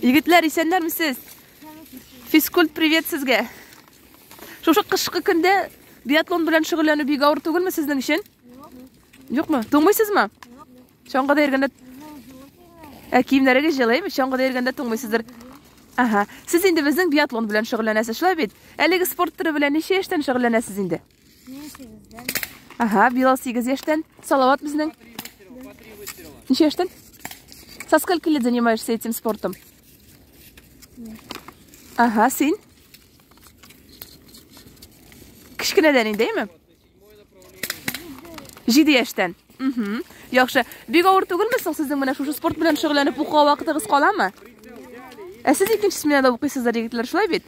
Егетләр, исәннәрме сез? Физкульт привет сезгә. Шушы кышкы көндә биатлон белән шөгыльләнү бик авыр түгелме сезнең өчен? Юкмы? Туңмыйсызмы? Чаңгыда йөргәндә Ә киемнәрегез җылыймы? Чаңгыда йөргәндә туңмыйсыздыр. Ага. Сез инде безнең биатлон белән шөгыльләнәсез, шулай бит? Әлеге спорт төре белән ничә яшьтән шөгыльләнәсез инде? Мин сигездән. Ага, Билал сигез яшьтән. Салават безнең. Ничә яшьтән? Со скольки лет занимаешься этим спортом? Ага, син? Кечкенәдән инде, әйме? Җиде яшьтән. Мхм. Яхшы. Бик авыр түгелме соң сезнең менә шушы спорт белән шөгыльләнеп укуга вакытыгыз каламы? Ә сез икенче сменада укыйсыздар, егетләр, шулай бит?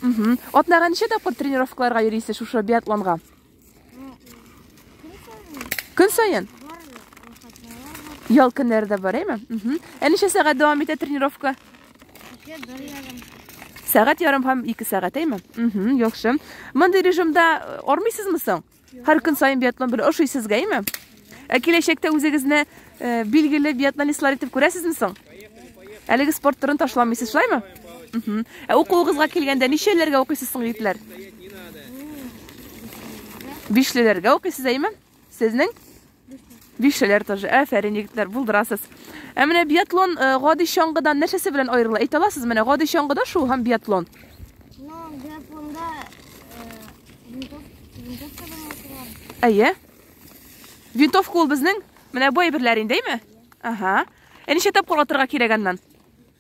Мхм. Атнага ничә тапкыр тренировкаларга йөрисез шушы биатлонга? Көн сайын? Ял көннәре дә бар, әйме? Мхм. Ә ничә сәгать дәвам итә тренировка? Сәгать ярым һәм 2 сәгать, әйме? Мхм, яхшы. Мондый режимда э, армыйсызмы соң? Һәр көн саен биатлон белән ошыйсыз гәйме? Ә киләчәктә үзегезне э, билгеле биатлонистлар итеп күрәсезме соң? Әлеге спорт төрен ташламыйсыз, шулаймы? Мгм. Ә укуыгызга килгәндә ничәләргә укыйсыз соң, егетләр? Бишлеләргә укыйсыз, әйме? Сезнең? Бишеләр тоже. Афәрин, егетләр, булдырасыз. Ә менә биатлон э, гади чаңгыдан нәрсәсе белән аерыла? Әйтә аласыз менә гади чаңгыда шул һәм биатлон. Ну, биатлонда винтовка белән Әйе. Винтовка ул безнең менә бу әйберләр инде, әйме? Ага. Ә ничә тапкыр атырга кирәк аннан?